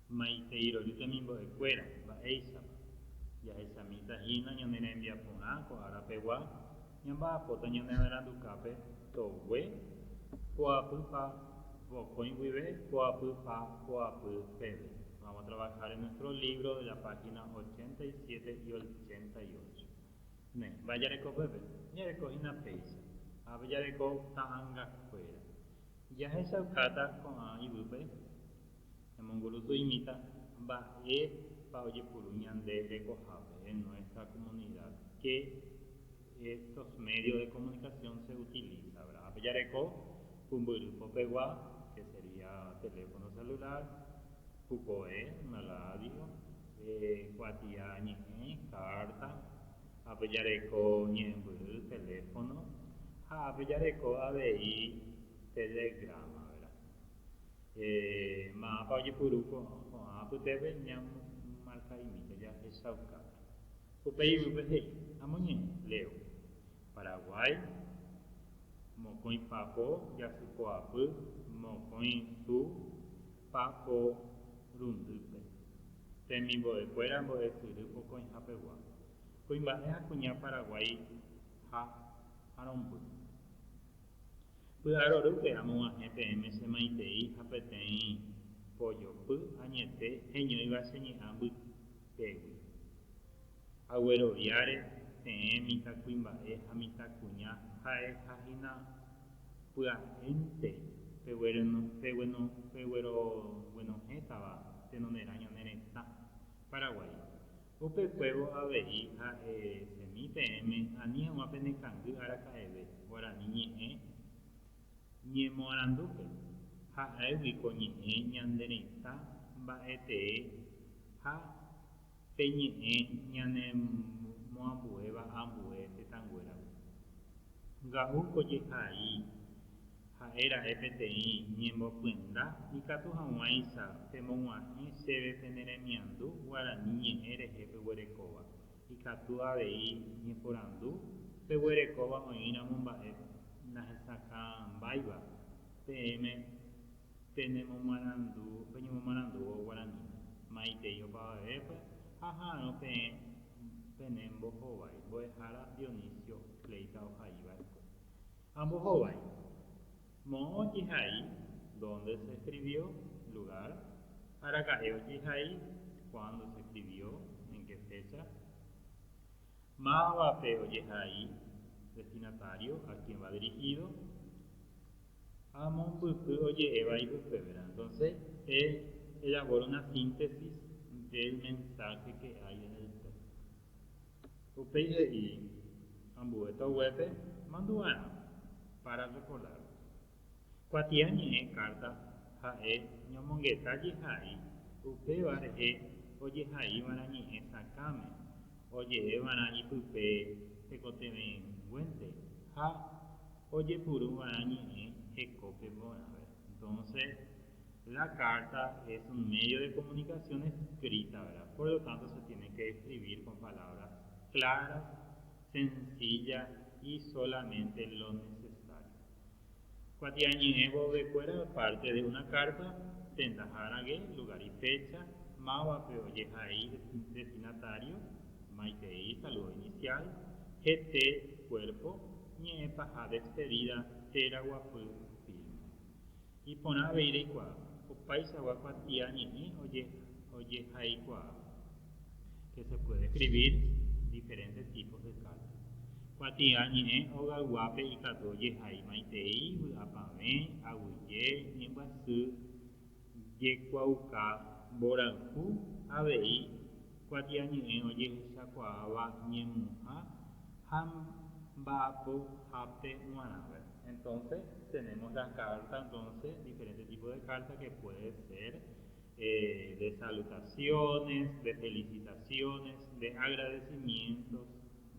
Maiteirory temimbo'ekuéra, mba'éichapa? Jahechamíta hína ñane rembiaporã ko árapegua, ñamba'apóta ñane nerandukápe togue, poapy pa vokõi guive, poapy pa poapy peve. Vamos a trabajar en nuestro libro de la página 87 y 88. Ne, mba'e jareko pépe? Jareko hína péicha. Ápe jareko ta'angakuéra. Jahechaukáta ko'ã yvýpe, emongurúsu imíta mba'épa ojepuru ñande rekohápe en nuestra comunidad, qué estos medios de comunicación se utiliza, ¿verdad? Ápe jareko pumbyry popegua, que sería teléfono celular, pukove, una radio, kuatia ñe'ẽ, carta, ha pejareko ñe'ẽmbyry teléfono ha pejareko avei Telegrama, vera. Ma'ãpa ojepuru ko'ã apytépe ñamomarkaimíta jahechaukápe. Upéi yvýpe he'i, Amoñe'ẽ, Leo. Paraguái, mokõi papo jasypoapy mokõi su paporundýpe, temimbo'ekuéra mbo'esyry pokõihapegua. Kuimba'e ha kuña Paraguái ha aromby. Py'arorýpe amog̃uahẽ peẽme che maitei ha peteĩ pojopy añete heñóiva che ñe'ã mbytégui. Agueroviáre peẽ mitãkuimba'e ha mitãkuña ha'eha hína pya'énte pegueroguenohẽtava tenonderã ñane retã Paraguái Upe kuévo avei ha'e chemi peẽme ani hag̃ua pene kangy araka'eve guarani ñe'ẽ ñemoarandúpe, ha'égui ko ñe'ẽ ñande retã mba'e tee ha pe ñe'ẽ ñane moambuéva ambue tetãnguéragui. Nga'u ko jehai Ha'e ra'e peteĩ ñembopyenda ikatu hag̃uáicha pemog̃uahẽ chéve pene remiandu guarani ñe'ẽ rehe peguerekóva. Ikatu avei ñeporandu peguerekóva oĩramo mba'e nahesakãmbáiva peẽme penemomarandu, peñemomarandúvo guaraníme, maitei opavavépe ha ha'arõ peẽ pene mbohovái mbo'ehára Dionisio Fleita ohaíva rekópe. Ambohovái. Moõ ojehai dónde se eskrivió, lugár, araka'e ojehai kuándo se eskrivió, en ke fécha, mávapa ojehai, destinatário, a kien va dirihído, ha mombyry oje'éva ipypevérã. Entónse e ejapóre una síntesis del mensáhe ke hay en el téxto. Upéi he'i ambue toguépe mandu'arã párrafo lárgo. Kuatia ñe'ẽ kárta ha'e ñomongeta jehai upéva rehe ojehaívarã ñe'ẽ sakãme oje'évarã ipype tekotevẽguénte ha ojepurúvarã ñe'ẽ hekópe porãve. Entonce. La carta es un medio de comunicación escrita, ¿verdad? Por lo tanto se tiene que describir con palabras claras, sencillas y solamente lo necesario. Kuatia ñe'ẽ vovekuéra parte de una carta tenda ha'arãgue, lugar y fecha, mávape ojehai destinatario, maitei, saludo inicial, hete, cuerpo, ñe'ẽ paha despedida, térã guapy, firma. Iporã avei reikuaa opaichagua kuatia ñe'ẽ ojehaikuaa. Que se puede escribir diferentes tipos de cartas. Kuatia ñe'ẽ hogayguápe ikatu ojehai maitei vy'apavẽ, aguyje, ñembyasy, Jekuaauka mborayhu avei kuatiañe'ẽ ojehechakuaáva ñemuha ha mba'apohápe g̃uarãve. Entonces tenemos la carta entonces diferente tipo de carta que puede ser de salutaciones, de felicitaciones, de agradecimientos,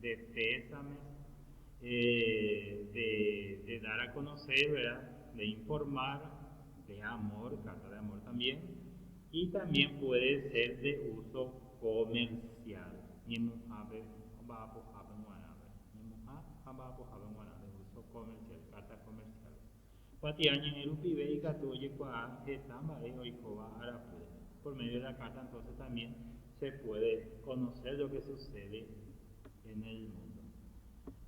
de pésame, de dar a conocer, ¿verdad? De informar, de amor, carta de amor también, y también puede ser de uso comercial, ñemuhápe ha mba'apohápe guarãpe, ñemuhã ha mba'apohápe guarã, de uso comercial, cartas comerciales. Kuatia ñe'ẽ rupive ikatu ojekuaa heta mba'e oikóva arakuéra. Por medio de la carta entonces también se puede conocer lo que sucede en el mundo.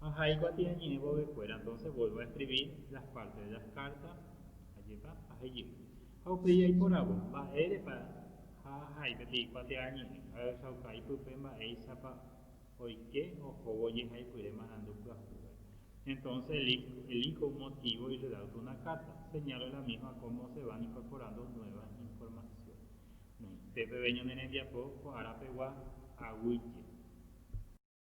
Aja ikuatia ñe'ẽ vovekuéra entonces vuelvo a escribir las partes de las cartas ajépa ajejey. Ha upéi jaiporavo mba'érepa ha ahai peteĩ kuatia ñe'ẽ ha ohechauka ipype mba'éichapa Oike ohóvo jehaipyre marandu pyahúpe. Entonce el hijo, el hijo un motivo y le da auto una carta. Señal de la misma cómo se van incorporando nueva información. Noĩnte peve ñane rembiapo ko ára pegua aguyje.